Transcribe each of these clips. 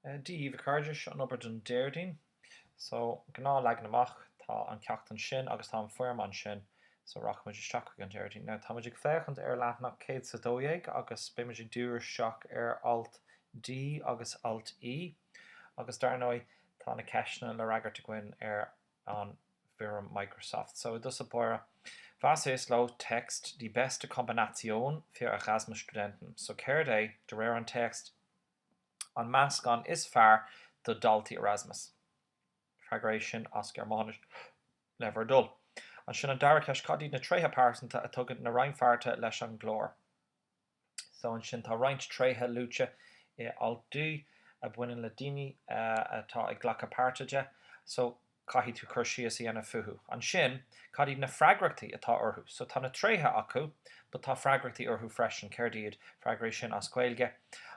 Dia daoibh a chairde, seo an obair don Déardaoin. So gnáthleagan amach tá an ceacht ansin agus tá an foirm ansin. So rachaidh muid isteach chuig an Déardaoin. Now tá muid ag féachaint ar leathanach 100 is 12 agus beidh muid ag díriú isteach ar alt D agus alt E agus dar ndóigh tá na ceisteanna le fhreagairt againn ar an bhfoirm Microsoft so i dtosach báire, was ist laut Text die beste Kombination für Erasmus-Studenten, so céard é, de réir an téacs, an meascán is fearr do dhaltaí Erasmus? Freagair é sin as Gearmáinis, le bhur dtoil. Ansin an dara ceist, cad iad na tréithe pearsanta a tugann na rannpháirtithe leis an gclár? So ansin tá roinnt tréithe luaite i alt D a bhaineann le daoine atá ag glacadh páirte de. So caithfidh tú cur síos a dhéanamh fúthu. Ansin cad iad na freagrachtaí atá orthu? So tá na tréithe acu but tá freagrachtaí orthu freisin. Céard iad? Freagair é sin as Gaeilge.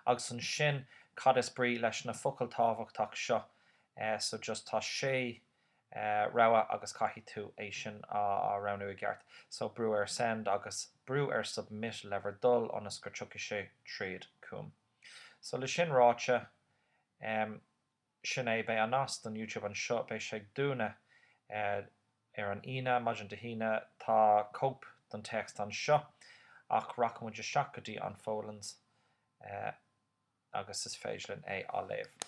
Agus ansin cad is brí leis na focail tábhachtach seo? So just tá sé rogha agus caithfidh tú é sin a roghnú i gceart. So, brú ar Send agus brú ar Submit le bhur dtoil ionas gur tiocfaidh sé tríd chugam. So, le sin ráite, sin é, beidh an nasc don YouTube anseo, beidh sé ag dúnadh ar an Aoine, maidin Dé hAoine, tá cóip don téacs anseo ach rachaidh muid isteach go dtí an Folens agus is féidir linn é a léamh.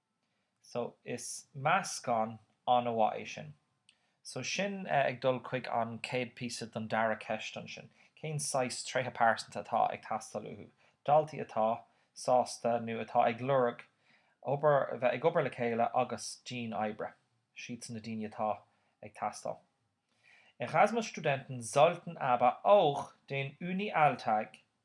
So, is meascán an-mhaith é sin. So, sin ag dul chuig an chéad phíosa don dara ceist ansin, cén saghas tréithe pearsanta atá ag teastáil uathu, daltaí atá sásta nó atá ag lorg obair, bheith ag obair le chéile agus dianoibre, siadsan na daoine atá ag teastáil. Erasmus-Studenten sollten aber auch den Uni-Alltag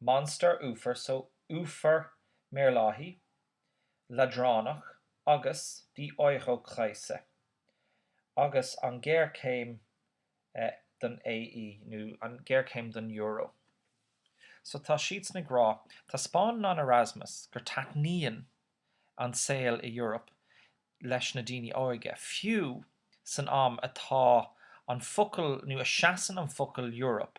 Monster uafar so uafar maorlathaí, leadránach, agus die Eurokrise, agus an ghéarchéim don AE, nó an ghéarchéim don Euro. So tá siadsan ag rá, taispeánann an Erasmus gur taitníonn an saol i Europe leis na daoine óige, fiú san am atá an focal, nó a seasann an focal Europe,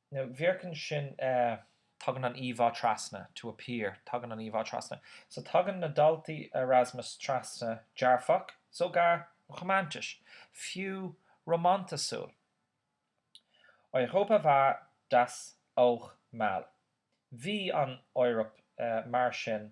wirken, sin tagann an íomhá trasna, to appear. Tagann an íomhá trasna. So tagann na daltaí Erasmus trasna dearfach, sogar romantisch, fiú rómántasúil. Europa war das auch mal. Bhí an Eoraip mar sin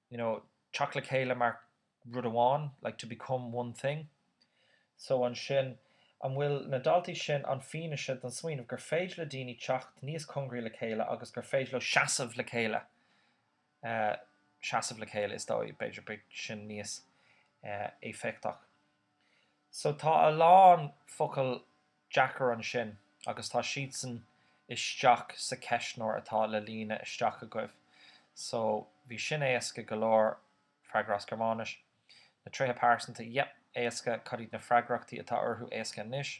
you know, teacht le chéile mar rud amháin, like to become one thing. So ansin, an bhfuil na daltaí sin, an fianaise don smaoineamh gur féidir le daoine teacht níos congraí le chéile agus gur féidir leo seasamh le chéile, eh, seasamh le chéile is dóigh, b'fhéidir, beag sin níos, eh, éifeachtach. So tá a lán focal deacair ansin agus tá siadsan isteach sa cheistneoir atá le líonadh isteach agaibh. So bhí sin éasca go leor, freagra as Gearmáinis. Na tréithe pearsanta, yep, éasca. Cad iad na freagrachtaí atá orthu éasca anois?